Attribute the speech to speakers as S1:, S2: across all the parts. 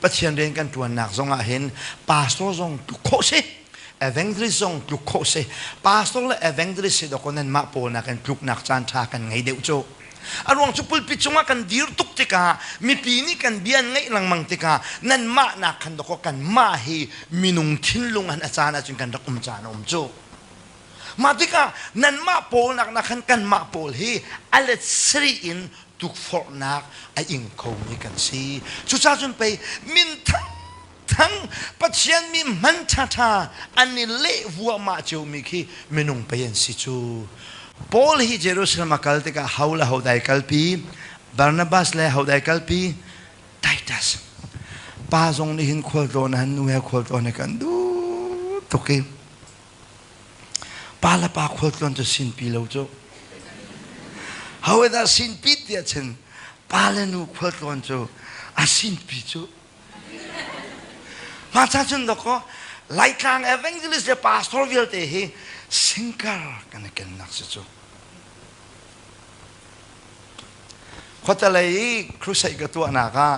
S1: Pathian rian kan ṭuannak zongah hin pastor zong tluk khawh si evangelist zong tluk khawh si pastor le evangelist si dawkaw nanmah pawl nakin tluknak caan ṭha kan ngei deuh cu a ruang cu pulpit cungah kan dir tuk tikah mipi nih kan bia an ngaih lengmang tikah nanmah nak khan dawkaw kanmah hi minung thinlung an a caan ahcun kan rak um caan a um cu mah tikah nanmah pawl nak na khan kanmah pawl hi a let siri in tukforhnak a ing khomi kan si. Cucaah cun pei minthang thang Pathian mi hman ṭhaṭha an i leh vuahmah ciomi khi minung pei an si cu. Paul hi Jerusalem a kal tikah ho le ho dai kalpi, Barnabas le ho dai kalpi, Titus pa zong nih hin khualtlawn han nu he khualtlawn he kan duh tuk i Pa le pa khualtlawn cu sinpi lo cu. However sinpi tiah cun pa le nu khualtlawn cu a sinpi cu. Mah ca cun dakaw Laitlang evangelist le pastor vialte hi singer kan i kennak si cu. Khuatalei crusade ka tuahnak ah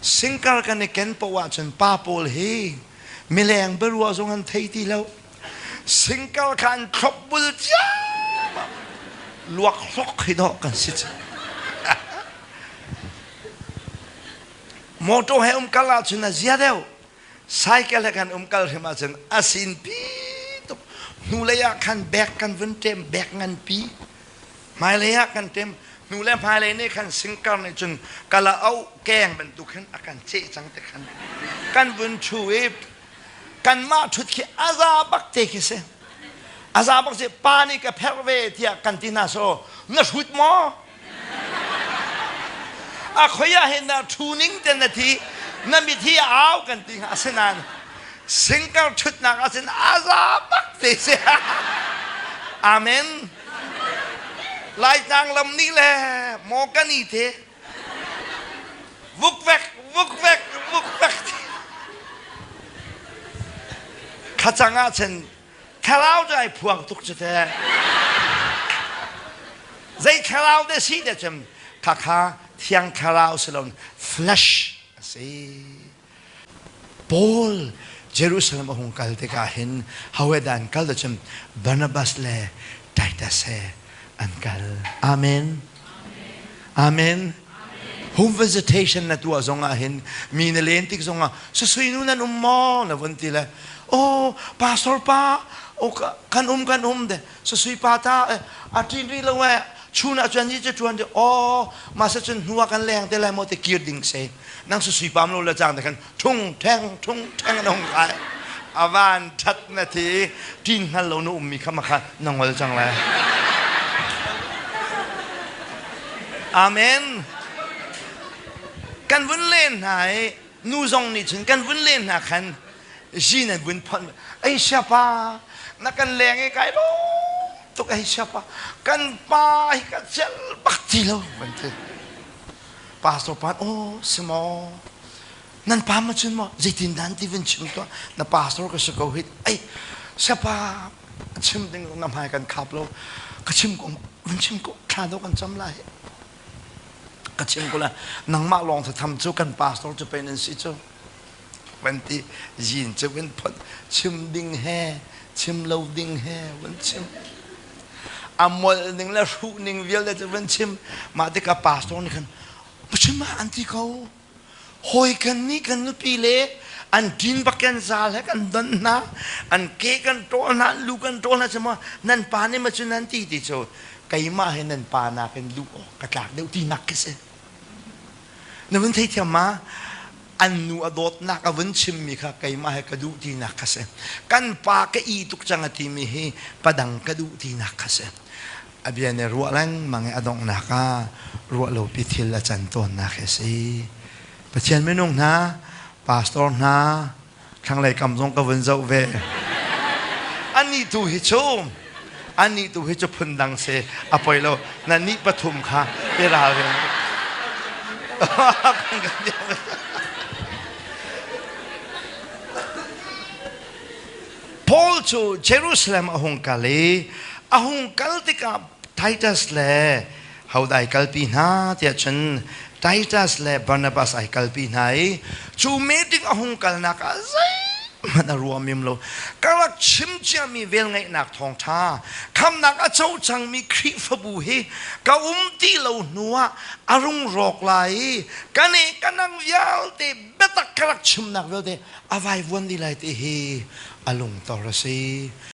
S1: Singkar kan i ken poh ahcun pa pawl hi mileng biaruah zong an thei ti lo. Singkar kha an thlop bul cia luak hlok hi dawh kan si cang. motor he umkal ahcun a zia deuh cycle he kan umkal hrim ahcun a sin pi tuk hnulei ah khan bag kan vun ṭem bag nganpi Hmailei ah kan tim. Nu le hmailei nih khan singkar nih cun kala auh keng bantuk hin a kan ceh cang te khan. Kan vun thu i kanmah thut khi a za bak te khi si. A za bak si pa nih ka pherh ve tiah kan ti hna so na hrut maw? a khoi ah hin na thu ning ten na thi na mit hi a au kan ti hna asinain Sinker ṭhutnak ah cun a za bak te si. Amen. Laitlang lam nih le Mawkani te vuk vek vuk vek vuk vek khacang ah cun thlarau cu ai phuang tuk cu te zei thlarau de si te cun khakha thiang thlarau si lo flesh a si Paul Jerusalem a hung kal tikah hin hawidah an kal cun Barnabas le Titus he an kal. Amen. Amen. Home visitation na tuah zongah hin mi na len tik zongah susui nu nan um maw na vun ti le oh pastor pa oh, kan um kan um de Sasui pa ta a ṭin rih lo eh chun ah cun ni cu ṭuan dih aw masa cun hnu ah kan leng te lai maw ti kir ding se nang sasui pa mlo la cang te khan ṭhung ṭheng ṭhung ṭheng na hung kai a van ṭhat na thi ṭin hnal lo na um mi kha ma kha na ngol cang le amen kan vun len hna i nu zong nih cun kan vun len hna khan zin an vun phon ei siapa na kan leng i kai lo tuk ei siapa kan pa hi ka cel bak ti lo van ti pastor pan oh si maw nan pa ma cun maw zeitin dan ti vun chim to na pastor ka si ko hit ei siapa chim ding na hmai kan khap lo ka chim ko vun chim ko thla do kan cham lai ka chim kule nangmah lawng tham cu kan pastor cu pen an si cu van ti zin cu kan phot chim ding he chim lo ding he van chim amol ning le hruh ning vialte cu van chim mah ti ka pastor nih khan pachim ah an ti ko Hawi kan nih kan nupi le an din bak kan zal he kan don hna an ke kan ṭawl hna lu kan ṭawl hna cuma nan pa nih ma cu nan ti ti cu keimah he nan pa nakin luh awk ka tlak deuh tinak khi si na vun theithiam ma an nu a dawtnak a vun chimmi kha keimah he ka duh tinak kha si kan pa ka i tuk cang a timi hi padang ka duh tinak kha si a bia nih ruah lengmang i a donghnak ah ruah lopi thil a can tawnnak hi a si. Pathian minung hna, pastor hna, thlanglei kam zong ka vun zoh ve. Anih tu hi cu, anih tu hi cu phundang si, a poi lo, na nih pathum kha i ralring. Paul cu Jerusalem a hung kal i a hung kal tikah Titus le hodai kalpi hna tiah cun Titus le Barnabas ai kalpi hna i cu meeting a hung kalnak ah zeihmanh a ruam im lo ka rak chim ciami velngeihnak thawngṭha khamnak a co cangmi Khrihfabu hi ka um ti lo hnu ah a rung rawk lai i ka nih ka nang vialte biatak ka rak chimnak vialte a vaivuan dih lai ti hi a lungtor a si.